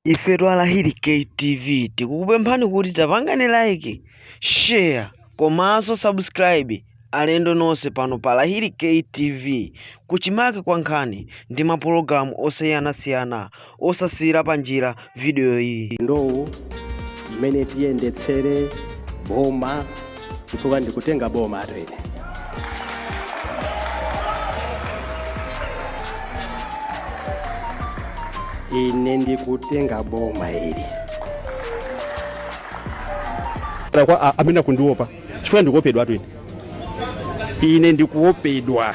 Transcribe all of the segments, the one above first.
ife a lahiri ktv tikukupemphani kuti tapangani like share komanso subscribe alendo nonse pano pa lahiri ktv kuchimake kwa nkhani ndi mapulogalamu osiyanasiyana osasiyira panjira vidiyo iyi ndowu mmene tiyendetsere boma chifukwa ndikutenga boma etu ine ine ndikutenga boma ili Kaya kwa a- amene akundiopa chifukwa ndikuopedwa etu ine ine ndikuopedwa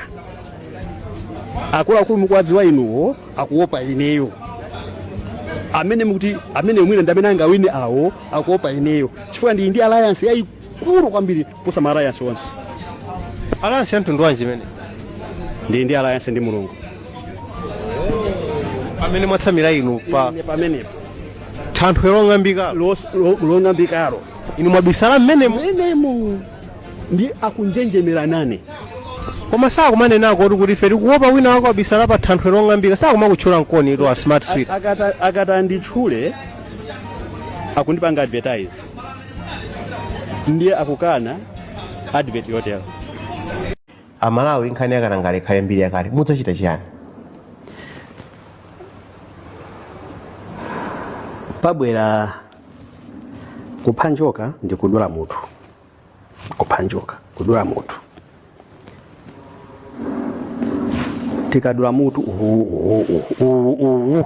akuluakulu mukuwadziwa inuwo akuopa ineyo amene mukuti amene mwina ndi amene angawine awo akuopa ineyo chifukwa ndili ndi alliance yayikulu kwambiri kuposa ma alliance onse alliance ya mtundu wanji imeneyo ndili ndi alliance ndi mulungu pamene mwatsamira inu pa pamenepo thanthwe long'ambika Los- lo- long'ambikalo inu mwabisala mmenemo mmenemo ndi akunjenjemera nane koma sakumanenako kuti kuti ife tikuopa wina wake wabisala pa thanthwe long'ambika sakumakutchula mkoni ito a smart sweet akata akata nditchule akundipanga advertise ndiye akukana advert yotero amalawi nkhani ya katangale ikhale mbiri yakale mudzachita chiyani pabwera kupha njoka ndikudula mutu kupha njoka kudula mutu tikadula mutu uwu uwu uwu uwu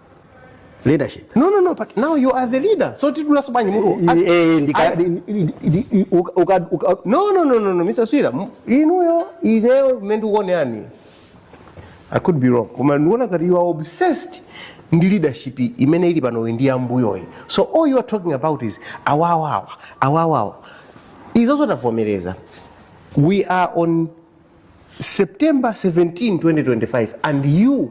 leadership no no no but now you are the leader so tidulanso bwanji mutu eh ndika no no no no no mr swira inuyo ineyo mmene ndikuonera i could be wrong koma ndikuona ngati you are obsessed ndi leadership imene ili panoyi ndi yam'mbuyoyi so all you are talking about is awawawa awawawa izo tavomereza we are on September 17, 2025 and you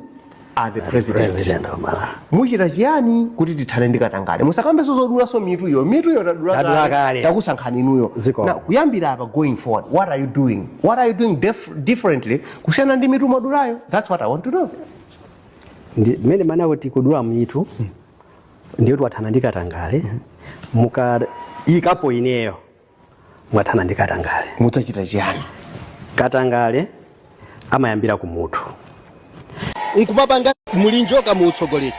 are the president. President of Malawi. Muchita chiyani kuti tithane ndi katangale? Musakambenso zodulanso mitu iyo. Mitu iyo Tadula tadula kale. kale. Takusankhani inuyo. Ziko. Na kuyambira apa going forward, what are you doing? What are you doing def differently kusiyana ndi mitu mwadulayo? That's what I want to know. Ndi- mmene mwanawo tikudula mitu ndiyo tiwathana ndi katangale mukayikapo ineyo mwathana ndi katangale mudzachita chiyani katangale amayambira ku mutu nkumapanga muli njoka mu utsogoleri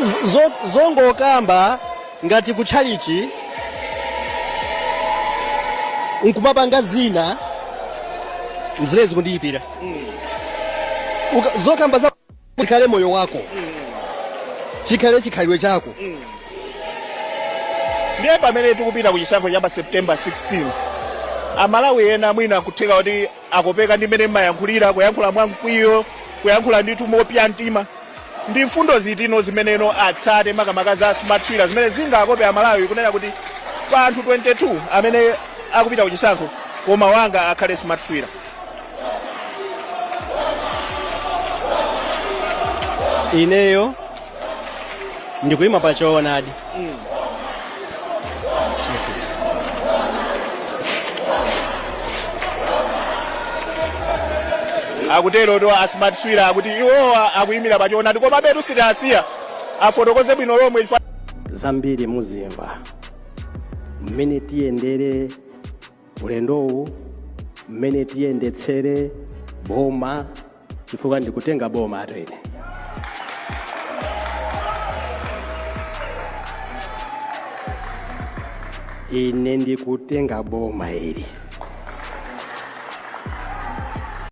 Z- zo- zongokamba ngati kutchalichi nkumapanga zina ndi zimene zikundiipira Uka- zokamba za chikhale moyo wako chikhale chikhalidwe chako ndiye pamene tikupita ku chisankho cha pa september 16 amalawi ena mwina nkutheka kuti akopeka ndi mmene mmayankhulira kuyankhula mwamkwiyo kuyankhula ndithu mopsa mtima ndi mfundo ziti zimeneno atsate makamaka za smart swira zimene zingakope amalawi kunena kuti pa anthu 22 amene akupita ku chisankho koma wanga akhale smart swira ineyo ndikuyima pa choonadi akutero to asmart swira akuti iwowa akuyimira pa choonadi komabetu sitiwasiya afotokoze bwino lomwe chifukwa zambiri muzimva mmene tiyendere ulendowu mmene tiyendetsere boma chifukwa ndikutenga boma ato ine ine ndikutenga boma ili